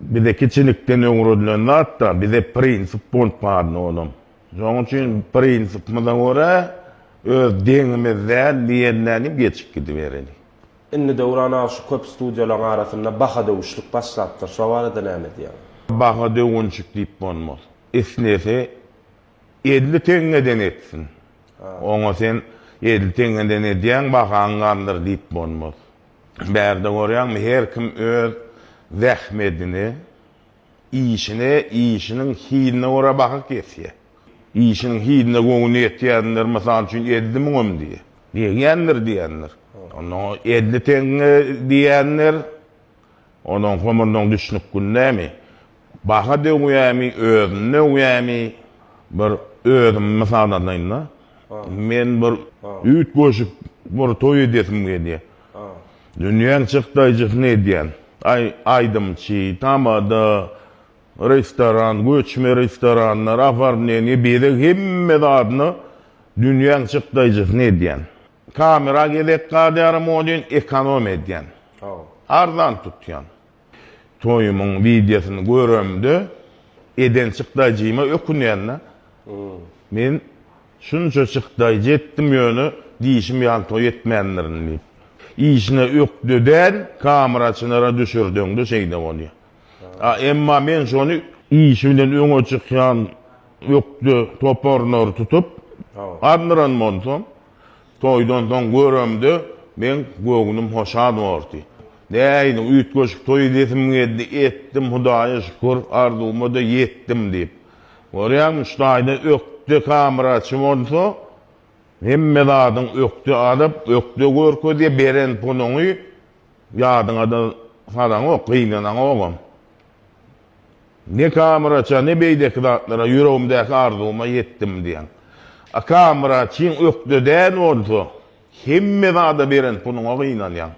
Bize kiçilikden öwredilen zat-da, bize prinsip bolup galdy olam. Şonuň üçin prinsipimize görä, öz deňimiz däl diýenlerini geçip gidibereli. Indi Döwran aga şu köp studiýalaryň arasynda baha döwüşlik başlapdyr. Şo barada näme diýýäň? Baha döwünşik diýip bolmaz. Islese elli teňňeden etsin. Oňa sen elli teňňeden edýäň, bahaň galdyr diýip bolmaz. Bärde görýäňmi her kim öz zähmedini, işini, işiniň hiline görä baha kesýä. Işiniň hiline göwni ýetýänler mysal üçin elli müňem diýýä. Degýändir diýýändir. Onda edli teňňe diýýändir. Onuň homurdan düşnük gündemi, baha döwýämi, özüni döwýämi, bir özümi mysal alaýyn-da. Men bir üýtgeşik bir toý edýesim gelýär. Dünýäň çykdaýjysyny edýän. Aý, aýdymçy, tamada, restoran, göçme restoranlar, oformleniýe, bezeg hemme zadyny dünýäň çykdaýjysyny edýän. Kamera gezek gadýaram o deýin ekonom edýän. Arzan tutýan. Toýumyň wideosyny göremde eden çykdaýjyma ökünýända. Men şunça çykdaýjy etdim ýöne diýşim ýaly toý etmändirin diýip. Işine ökde däl kameraçylara düşürdeňde şeýde bolýa. A emma men şony işi bilen öňe çykýan ökde toparlary tutup arndyran bolsam, toýdan soň göremde meň göwnüm hoşal bordy. Nähili üýtgeşik toý edesim geldi, etdim, Hudaýa şükür, arzuwyma-da ýetdim diýip. Görýäňmi, şu taýda ökde kameraçy bolsa, hemme zadyň ökde alyp, ökde görkezýär, beren puluňy, Ýadyňada salaňok, gynanaňogam. Ne Kamyraça, ne beýleki zatlara, ýüregimdäki arzuwyma ýetdim diýýäň. A Kamyraçyň ökde däl bolsa, hemme zada beren puluňa gynanýaň.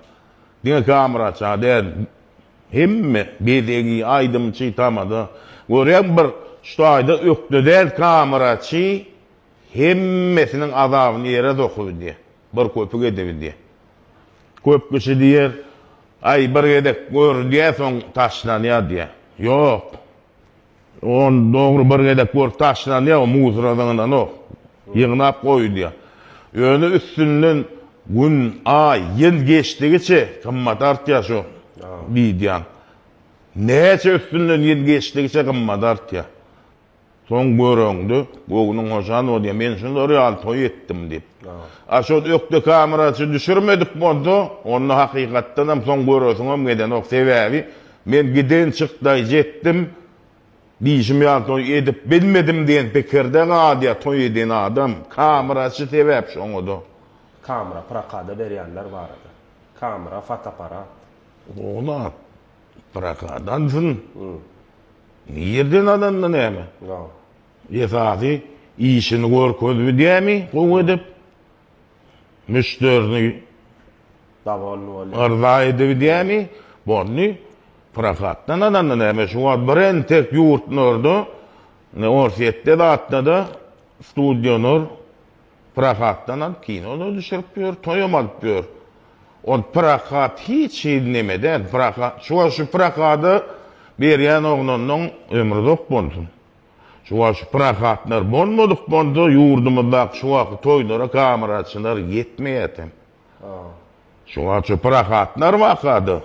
Diňe Kamyraça däl, hemme, bezegi, aýdymçy, tamada. Görýäň bir, şu taýda ökde däl Kamyraçy hemmesiniň azabyny ýere sokup diýýär. Bir köpük edebin diýer. Köp kişi diýer, Aý, bir gezek görülýär, soň taşlanýar diýer. Ýok. On dogry bir gezek görüp taşlanýar, o musora zyňylanok. Ýygnap goýulýar. Ýöne üstünden gün, aý, ýyl geçdigiçe gymmaty artýar şu wideonyň. Näçe üstünden ýyl geçdigiçe gymmaty artýar. Soň göreňde, göwnüň hoşal bolýar. Men şular ýaly toý etdim diýip. A şol ökde kameraçy düşürmedik bolsa, onda hakykatdanam soň göresiňem gelenok. Sebäbi men giden çykdaý jetdim, diýşim ýaly toý edip bilmedim diýen pikirde galýar toý eden adam. Kameraçy sebäp şoňa-da. Kamera prokada berýänler barada. Kamera, fotoapparat. Zol zat. Prokad alsyn. Nirden alanda näme? Esasy işini görkezip edýärmi gowy edip? Müşderini yrza edip edýärmi? Boldy. Prokatdan alanda näme? Şu wagt bir entek ýurtlarda, Orsýetde zatda-da studiýalar Pyragatdan alyp kinoda düşürip ýör, toýam alyp ýör. Ol Pyragat hiç hili neme däl. Pyragat şu wagt şu Pyragada berýän oglanyň ömri uzak bolsun. Şu wagt şu Pyragatlar bolmadyk bolsa ýurdumyzdaky şu wagtky toýlara kameraçylar ýetmeýärdi hem. Şu wagt şu Pyragatlar baka-da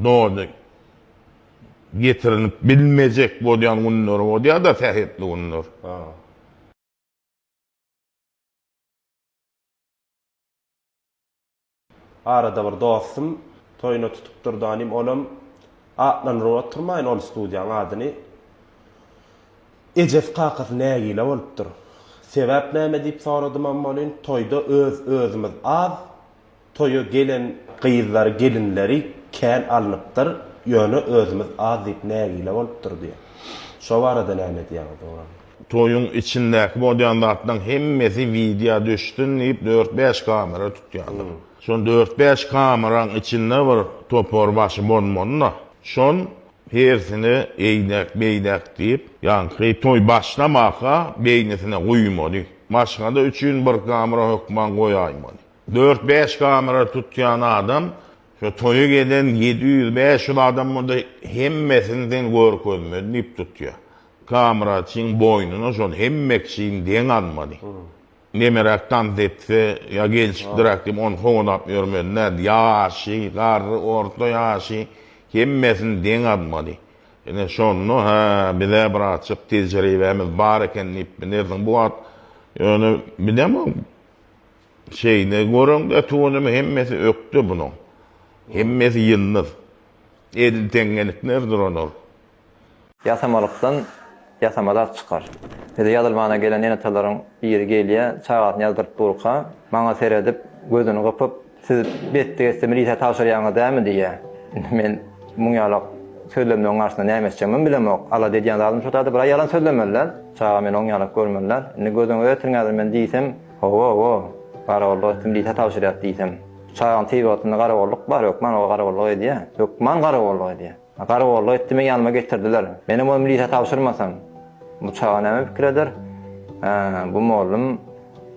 doly getirilip bilmejek bolýan günleri bolýar-da sähetli günler. Arada bir dostum toýuna tutupdyr danym olam atlandyryp oturmaýyn ol studiýaň adyny. Ejesi kakasy nägile bolupdyr. Sebäp näme diýip soradymam welin toýda öz özümiz az. Toýa gelen gyzlary, gelinleri kän alnypdyr, ýöne özümiz az diýip nägile bolupdyr diýýär. Şo barada näme edýäňiz dogran? Toýuň içindäki bolýan zatlaryň hemmesi widýa düşsün diýip dört-bäş kamera tutýarlar. Şol dört-bäş kameraň içinde bir topar başy bolmaly-da. Şol hersini eýdäk, beýdäk diýip, ýaňky toý başlamaka beýnisine guýmaly. Maşgala üçin bir kamera hökman goýaýmaly. Dört-bäş kamera tutýan adam şu toýa gelen ýedi ýüz, bäş ýüz adam bolsa hemmesini sen görkezmeli diýip tutýar. Kameraçyň boýnuna şol hemme kişini deň almaly. Nemeräk tans etse ýa gelşikliräk diýip ony kowalap ýörmeli däl. Ýaşy, garry, orta ýaşy hemmesini deň almaly. Ine şonda hä bize birazjyk tejribämiz bar eken diýip bilersiň. Bu wagt ýöne bilemok. Şeýle göreňde tudumy hemmesi ökde bunuň. Hemmesi ýyldyz. Edil teňňelikler duran ol. Ýasamalykdan ýasama zat çykar. Bize ýazylmana gelen enatalaryň biri gelýä, çagasyny ýazdyryp durka, maňa seredip, gözüni gypyp, Siz betdi geçse milisä tabşyrýaňyz dämi? diýýä. Indi men muň ýalak sözlemleň garşysynda näme etjegimem bilemok. Alada edýän zadym şo zady bir-ä ýalan sözlemeli däl. Çaga meni oň ýalak görmeli däl. Indi gözüňize getirňäzir men diýsem, Ho-ho-ho, garagollyga kim diýse tabşyrýar diýsem. Çagaň tebigatynda garagolluk bar, hökman o garagolluk edýär. Hökman garagolluk edýär. Garagolluk etdi, meni ýanyma getirdiler. Menem o milise tabşyrmasam, bu çaga näme pikir eder? Hä, bu mollum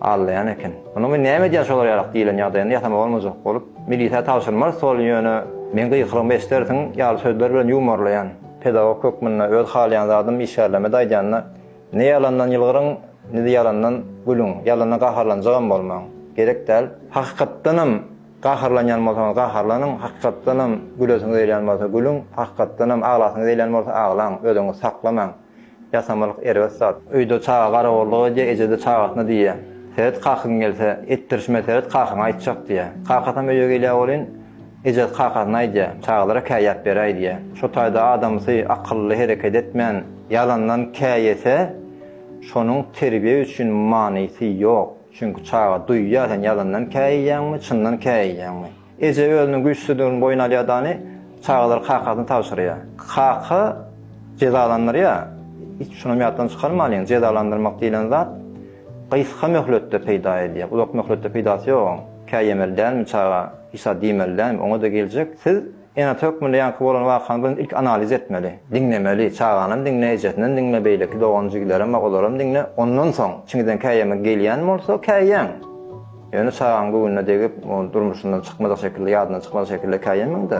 aldaýan eken. Munuň men näme edýän şolar ýarak diýilen ýagdaýynda ýasama bolmajak bolup, milise tabşyrmarys ol, ýöne meň gykyrygymy eşdersiň ýaly sözler bilen ýuwmarlaýan. Pedagog hökmünde öz halaýan zadym işgärlerime-de aýdýan-da, Ne ýalandan ýylgyryň, ne-de ýalandan gülüň. Ýalana gaharlanjagam bolmaň. Gerek däl. Hakykatdanam gaharlanýan bolsaňyz gaharlanyň, hakykatdanam gülesiňiz gelýän bolsa gülüň, hakykatdanam aglasyňyz gelýän bolsa aglaň, özüňizi saklamaň. Ýasamalyk erbet zat. Öýde çaga garawullyk edýär, eje-de çagasyna diýýär, Seret, kakyň gelse, etdirişime seret, kakyňa aýtjak diýýär. Kakasam öýe gelýär welin, Ejesi kakasyna aýdýar, çagalara käýäp beräý diýýär. Şo taýda adamsy akylly hereket etmän, ýalandan käýese, şonuň terbiýe üçin manysy ýok. Çünki çaga duýýar sen ýalandan käýýäňmi, çyndan käýýäňmi. Eje özüniň güýçsüzdigini boýun alýar dany, çagalary kakasyna tabşyrýar. Kaka jezalandyrýar. Hiç şunam ýatdan çykarmalyň, jezalandyrmak diýlen zat gysga möhletde peýda edýär, uzak möhletde peýdasy ýok oň. Kä ýemeli dälmi çaga, hiç-zat diýmeli dälmi, oňa-da geljek. Siz ene-ata hökmünde ýaňky bolan wakany birinji ilki analiz etmeli, diňlemeli, çaganam diňle, ejesinem diňle, beýleki dogan-jigilerem bar, olaram diňle, ondan soň, çiňinden kä ýemek gelýän bolsa, kä ýeň. Ýöne çagaň göwnüne degip, ony durmuşyndan çykmajak şekilde, ýadyndan çykmajak şekilde kä ýemeň-de,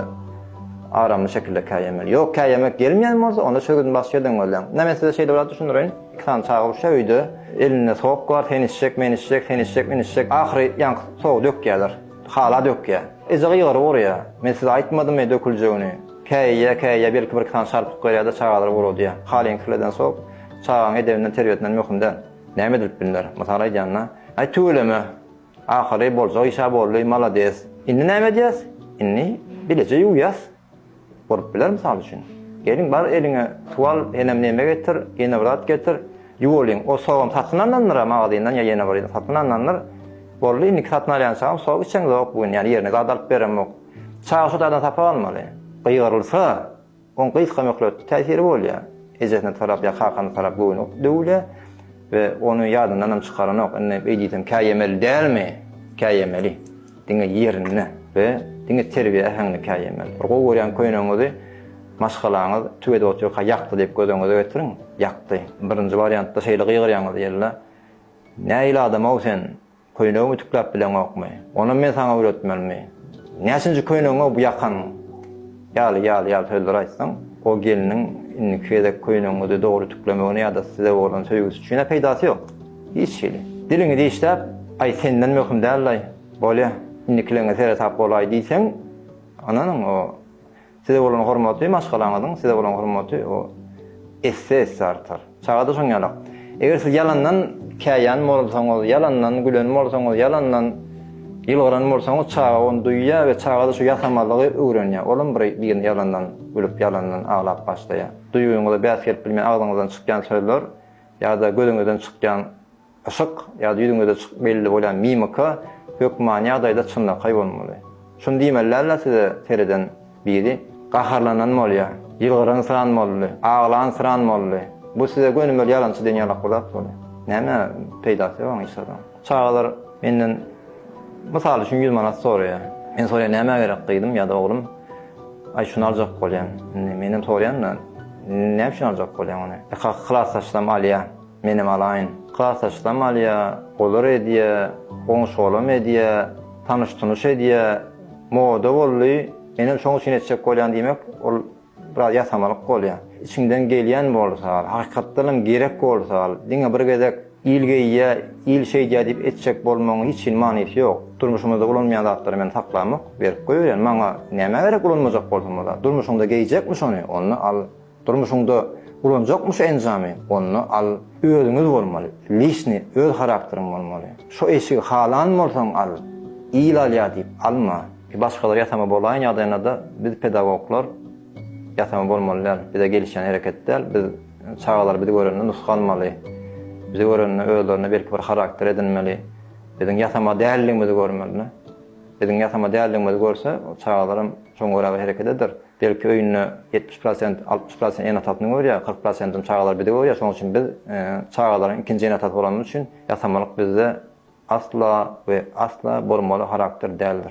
aramly şekilde kä ýemeli. Ýok, kä ýemek gelmeýän bolsa, onda çörgüdini başga ýerden gözläň. Ine, men size şeýle bir zat düşündireýin. Iki sany çaga urşýar öýde. Elinde sok bar, sen içjek, men içjek, sen içjek, men içjek. Ahyry ýaňky sogy dökýärler. Hala dökýär. Eje gygyryp urýar. Men size aýtmadymmy döküljegini. Käýýär, käýýär, belki birki sany çarpyk berýär-de çagalary uradýar. Halyňy kirleden sok çagaň edebinden, terbiýesinden möhüm däl. Näme edilip bilner? Mysal aýdýan-da. Aý tüweleme. Ahyry boljak iş-ä boldy, malades. Indi näme edýäs? Indi bileje ýuwýas. Bolup biler mysal üçin. Gelin bar eliňe tuwal henem neme getir, ýene bir zat getir, ýuwulyň. O sogam satyn alnandyr-a magazyndan ýa ýene bir ýerden satyn alnandyr. Boldy indiki satyn alýan çagam sok içemzok bu gün ýani ýerine zat alyp beremok. Çaga şu zadan sapak almaly. Gygyrylsa, oň gysga möhletli täsiri bolýar. Ejesine tarap ýa kakana tarap göwni döwülýär we ony ýadyndanam çykaranok. Indi beýdisem käýemeli dälmi? Käýemeli. Diňe ýerinde we diňe terbiýe äheňinde käýemeli. Bir gowy görýän köýnegiňizi maşgalaňyz tüw edip otyrka ýakdy diýip göz öňüňize getiriň. Ýakdy. Birinji barýantda şeýle gygyrýaňyz ýella, Nähili adam-ow sen, köýnegimi ütükläp bileňokmy? Onam men saňa öwretmelimi? Näçinji köýnegiň-ow bu ýakan? Ýaly, ýaly, ýaly sözler aýtsaň, o gelniň indiki gezek köýnegiňizi dogry ütüklemegine ýa-da size bolan söýgüsi üçin-ä peýdasy ýok. Hiç hili. Diliňi dişläp, Aý, senden möhüm däl-laý, bolýa, indikileňe seresap bolaý diýseň, ynanyň, o size bolan hormaty, maşgalaňyzyň size bolan hormaty o esse-esse artar. Çaga-da şoň ýalak. Eger siz ýalandan käýýän bolsaňyz, ýalandan gülen bolsaňyz, ýalandan ýylgyran bolsaňyz, çaga ony duýýar we çaga-da şu ýasamalygy öwrenýär. Olam bir birine ýalandan gülüp, ýalandan aglap başlaýar. Duýgyňyza bäs gelip bilmeýän agzyňyzdan çykýan sözler ýa-da gözüňizden çykýan Yşyk ýa-da ýüzüňizde çykyp belli bolýan mimika hökman ýagdaýda çynlakaý bolmaly. Şuny diýmelidäldir size sereden biri gaharlanan bolýa, ýylgyransyran boldy, aglansyran boldy. Bu size gönümel ýalançy diýen ýalak bir zat bolýa. Näme peýdasy ýok oň hiç zadyň. Çagalar menden mysal üçin ýüz manat soraýa. Men soraýan nämä gerek gyzym ýa-da oglum? Aý şuny aljak bolýan. Indi menem soraýan-da, näme üçin aljak bolýaň ony? Ýa kaka klasdaşlam alýa. Menem alaýyn. Gasaçsam alýa, olar edýä, goňşy-golam edýä, tanyş-tunyş edýä. Moda boldy, menem şoň üçin etjek bolýan diýmek, ol biraz ýasamalyk bolýa. Içiňden gelýän bolsa, hakykatdanam gerek bolsa, diňe bir gezek il geýýä, il şeýdýä diýip etjek bolmagyň hiç hili manysy ýok. Durmuşymyzda ulanmaýan zatlary men saklamok, berip goýberýän. Maňa nämä gerek ulanmajak bolsam ol zat? Durmuşyňda geýjekmi şony, onda al. Durmuşyňda ulanjakmy şu enjamy, onda al, özüňiz bolmaly, lişni öz harakteriň bolmaly. Şo eşigi halan bolsaň al, il alýa diýip alma. Başgalar ýasama bolaýyn ýagdaýynada biz pedagoglar ýasama bolmaly däl, bize gelişýän hereket däl, biz çagalar bizi görende nusga almaly, bizi görende özlerine belki bir harakter edinmeli, biziň ýasama däldigimizi görmeli. Biziň ýasama däldigimizi görse çagalaram şoňa görä bir hereket eder. Belki öýünde ýetmiş prosent, altmyş prosent ene atasyny görýär, kyrk prosentim çagalar bizi görýär, şonuň üçin biz çagalaryň ikinji ene atasy bolanymyz üçin ýasamalyk bizde asla we asla bolmaly harakter däldir.